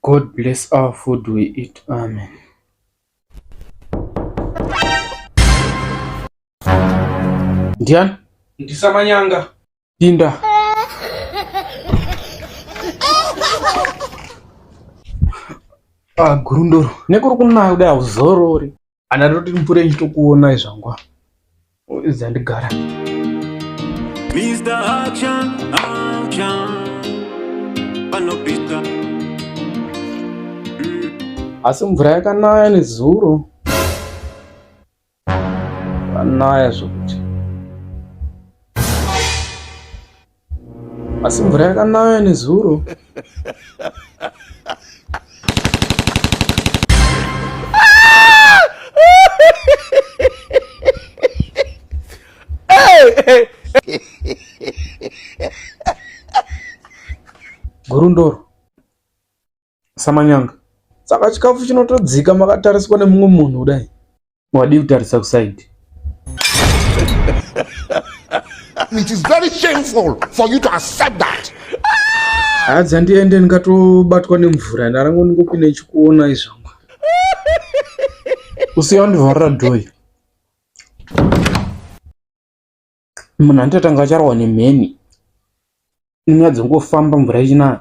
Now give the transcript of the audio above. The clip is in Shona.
God bless our food we eat. Amen. Ndiani? Ndisamanyanga. Pinda. Ah, gurundoro. Nekuri kunayo dai uzorori. ana toti mupure ndichitokuonai zvangu zandigara Mr. Action, action. Panopita. asi mvura yakanaya nezuro kanaya zvokuti Asi mvura yakanaya nezuro. Gurundoro. Samanyanga. Saka chikafu chinotodzika makatariswa nemumwe munhu kudai. Wadii kutarisa kusaidi? It is very shameful for you to accept that. Hadza ndiende ndingatobatwa nemvura ndarango ndingopinda ichikuona izvangu. Usiya ndivharira door. munhu anototanga acharwa nemheni inyaya dzongofamba mvura ichinaya